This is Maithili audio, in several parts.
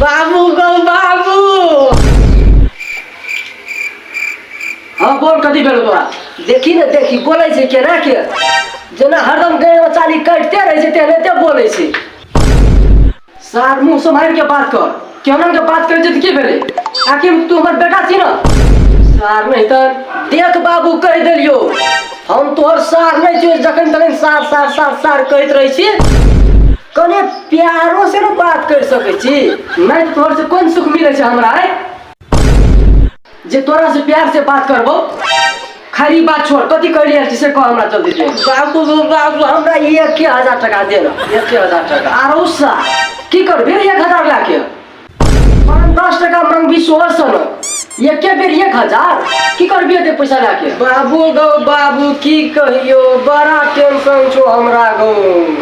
बाबू गौ बाबू हाँ बोल कथी भेल बा देखी ने देखी बोलै छै केना के जेना हरदम गए बचाली कटते रहै छै तेना एते बोलै छै सार मुंह सम्हारि के बात कर केहन के बात करै छै तऽ की भेलै आखिर तू हमर बेटा छी ने सार नहि तऽ देख बाबू कहि देलियो हम तोहर सार नहि छियो जखन तखन सार सार सार सार कहैत रहै छी कने प्यारो से ने बात करि सकै छी नहि तोहर से कोन सुख मिलै छै हमरा आइ जे तोरा से प्यार से बात करबो खरी बात छोड़ कथी कर लिया से कह हमरा जल्दी से बाबू बाबू हमरा ये के हजार टका दे ना ये के हजार टका आरो सा की कर बेर एक हजार ला के पाँच दस टका मांगबी सोलह सौ ना ये के बेर एक हजार की कर बिया दे पैसा ला के बाबू गौ बाबू की कहियो बड़ा टेंशन छो हमरा गौ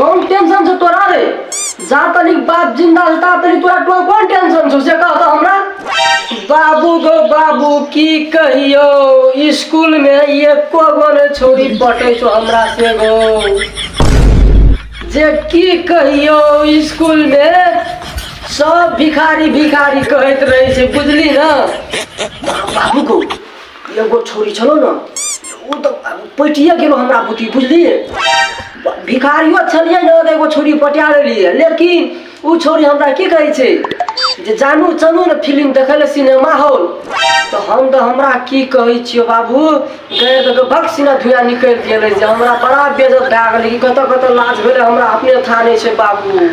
कौन टेंशन से तोरा रे जा तनी बाप जिंदा छै ता तनी तोरा कोन कोन टेंशन छौ से कह त हमरा बाबू गो बाबू की कहियो स्कूल में एको गो ने छोरी पटे छौ हमरा से गो जे की कहियो स्कूल में सब भिखारी भिखारी कहैत रहै छै बुझली ना बाबू गो एगो छोरी छलो ने ओ तऽ पटिए गेलो हमरा बुद्धि बुझलिए भिखारियो छलिए ने तऽ एगो छोरी पटिया लेलिए लेकिन ओ छोरी हमरा की कहै छै जे जानू चलू ने फिल्म देखै लए सिनेमा हॉल तऽ हम तऽ हमरा की कहै छियो बाबू गए तऽ भक सिना धुआँ निकलि गेलै जे हमरा बड़ा बेजत भए गेलै कि कतऽ कतऽ लाज भेलै हमरा अपने था नहि छै बाबू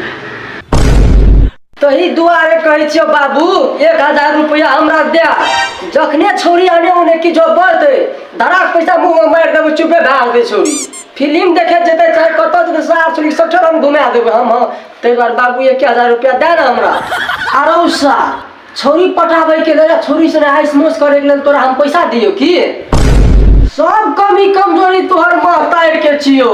तही दुआरे कहै छियौ बाबू एक हजार रुपैआ हमरा दए जखने छौरी आने ओने कि जो बढ़तै धड़ाक पैसा मुँहमे मारि देबै चुपे भए जेतै छौरी फिलिम देखे जेतै चाहे कतऽ जेतै सार छौरी सभठे हम घुमा देबै हम हँ ताहि दुआरे बाबू एक हजार रुपैआ दए ने हमरा आरो सा छौरी पटाबैके लेल आ छौरी से नहाइ स्मोस करैके लेल तोरा हम पैसा दियौ की सब कमी कमजोरी तोहर माँ तारिके छियौ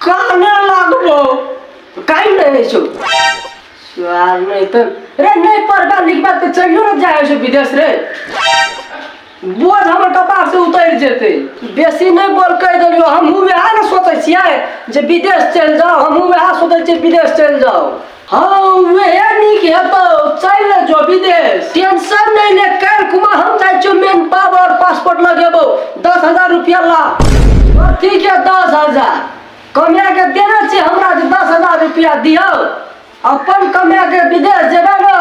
काने लागबो काई रहे छो स्वार नहीं तो रे नहीं पढ़बा लिखबा तो चलियो ना जाए छो विदेश रे बोझ हमर कपार से उतर जेते बेसी नहीं बोल कह देलियो हमहूँ वएह ने सोचै छियै जे विदेश चलि जाओ हमहूँ वएह सोचै छियै विदेश चलि जाओ हाँ उहे नीक हेतौ चलि ने जो विदेश टेंशन नहीं ले कर कुमा हम जाइ छियौ मेन पाव और पासपोर्ट लगेबो दस हजार रुपया ला कथी के दस हजार कमे के देने छी हमरा जे दस हजार रुपया दियौ अपन कमे के विदेश जेबै ने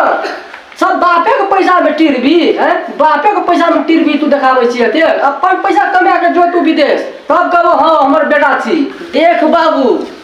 सब बापे के पैसा में टिरबी हैं बापे के पैसा में टिरबी तू देखाबै छी एते अपन पैसा कमे के जो तू विदेश तब कहबो हाँ हमर बेटा छी देख बाबू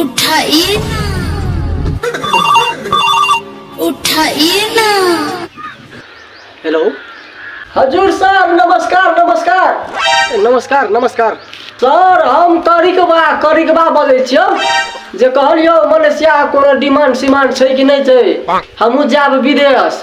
उठाइए ना उठाइए ना हेलो हजुर सर नमस्कार नमस्कार नमस्कार नमस्कार सर हम करिकबा करिकबा बजै छियौ जे कहलियौ मलेशिया कोनो डिमांड सिमांड छै कि नहि छै हमहूँ जायब विदेश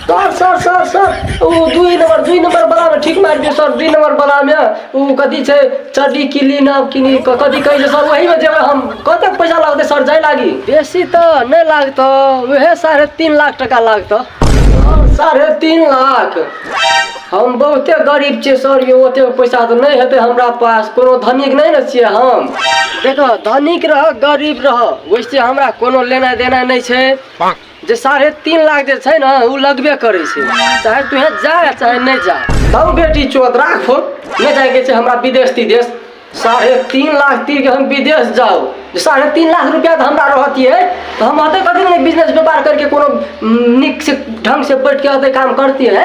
सर सर सर सर ओ दुई नम्बर दुई नम्बर बलामे ठीक मारि दियौ सर दुई नम्बर बलामे ओ कथी छै चड्डी किली नाम किनी कथी कहै छै सर ओहीमे जेबै हम कतेक पैसा लगतै सर जाय लागी बेसी तऽ नहि लागतौ उहे साढ़े तीन लाख टका लागतौ साढ़े तीन लाख हम बहुते गरीब छियै सर यौ ओतेक पैसा तऽ नहि हेतै हमरा पास कोनो धनिक नहि ने छियै हम देखो धनिक रह गरीब रह वैसे हमरा कोनो लेनाइ देनाइ नहि छै जे साढ़े तीन लाख जे छै ने ओ लगबे करै छै चाहे तुहे जा चाहे नहि जा तब बेटी चोत राखो नहि जाएके छै हमरा विदेश तिदेश साढ़े तीन लाख तीर के हम विदेश जाओ जे साढ़े तीन लाख रुपया तऽ हमरा रहतियै तऽ हम अतै कथी नहि बिजनेस व्यापार करके कोनो नीक से ढंग से बैठ के अतै काम करतियै